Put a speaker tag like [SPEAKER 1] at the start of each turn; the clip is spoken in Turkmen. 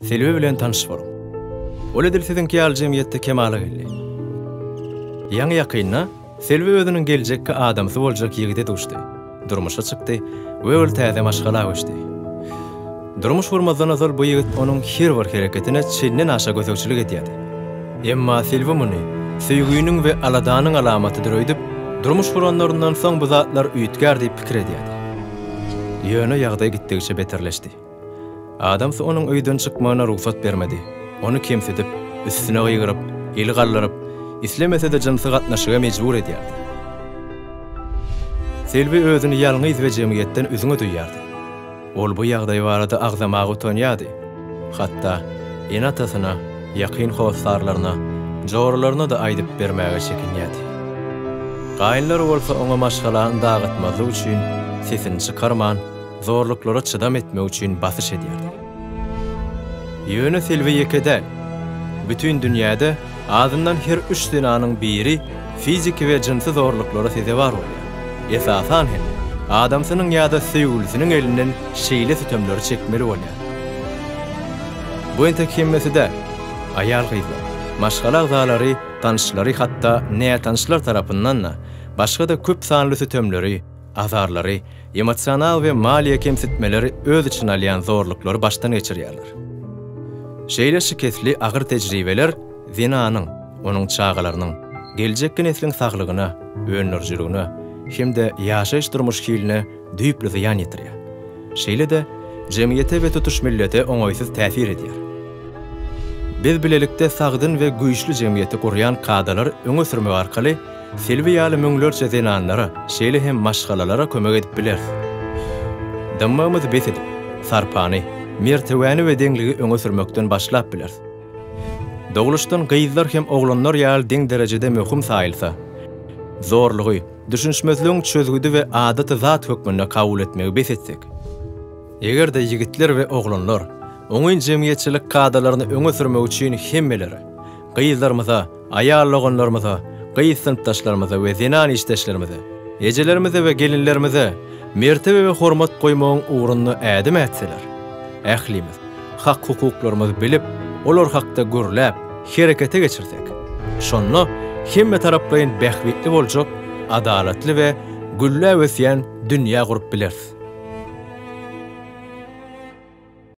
[SPEAKER 1] Selbi bilen tanyş boluň. Ol edil siziňki ýaly jemgyýetde kemala geldi. Ýaňy-ýakynda Selbi özüniň geljekki adamsy boljak ýigide duşdy, durmuşa çykdy we ol täze maşgala göçdi. Durmuş gurmazdan ozal bu ýigit onuň her bir hereketine çenden aşa gözegçilik edýärdi. Emma Selbi muny söýginiň we aladanyň alamatydyr öýdüp, durmuş guranlaryndan soň bu zatlar üýtgär diýip pikir edýärdi. Ýöne ýagdaý gitdigiçe beterleşdi. Adamsy onuň öýden çykmagyna rugsat bermedi. Ony kemsidip, üstüne gygyryp, el galdyryp, islemese-de jynsy gatnaşyga mejbur edýärdi. Selbi özüni ýalňyz we jemgyýetden üzňe duýýardy. Ol bu ýagdaý barada agzamaga utanýardy. Hatda ene-atasyna, ýakyn hossarlaryna, joralaryna-da aýdyp bermäge çekinýärdi. Gaýynlary bolsa oňa maşgalany dagatmazlyk üçin sesini çykarman, zorluklara çydam etmek üçin basyş edýärler. Ýöne Silwi ýeke däl. Bütin dünýäde azyndan her üç zenanyň biri fiziki we jynsy zorluklara sezewar bolýar, esasan hem, adamsynyň ýa-da söýgülisiniň elinden şeýle sütemleri çekmeli bolýar. Bu entek hemmesi däl. Aýal-gyzlar, maşgala agzalary, tanyşlary hatda nätanyşlar tarapyndan-da başga-da köp sanly sütemleri, azarlary, emosional we maliýe kemsitmeleri öz içine alýan zorluklary başdan geçirýärler. Şeýle şikesli agyr tejribeler zenanyň, onuň çagalarynyň, geljekki nesliň saglygyna, öndürijiligine hem-de ýaşaýyş-durmuş hiline düýpli zyýan ýetirýär. Şeýle-de, jemgyýete we tutuş millete oňaýsyz täsir edýär. Biz bilelikde sagdyn we güýçli jemgyýeti gurýan kadalar öňe sürmek arkaly, Silwi ýaly müňlerçe zenanlara, şeýle hem maşgalalara kömek edip bileris. Dymmygymyzy bes edip, sarpany, mertebäni we deňligi öňe sürmekden başlap bileris. Dogluşdan gyzlar hem oglanlar ýaly deň derejede möhüm saýylsa, zorlugy, düşünişmezligiň çözgüdi we adaty zat hökmünde kabul etmegi bes etsek, eger-de ýigitler we oglanlar oňyn jemgyýetçilik kadalaryny öňe sürmek üçin hemmeleri, Gyzlarymyza, aýal-oganlarymyza, gyz synpdaşlarymyza we zenan işdeşlerimize, ejelerimize we gelinlerimize mertebe we hormat goýmagyň ugrunda ädim ätseler, ählimiz hak-hukuklarymyzy bilip, olar hakda gürläp, herekete geçirsek, şonda hemmetaraplaýyn bähbitli boljak adalatly we gülläp ösýän dünýä gurup bileris.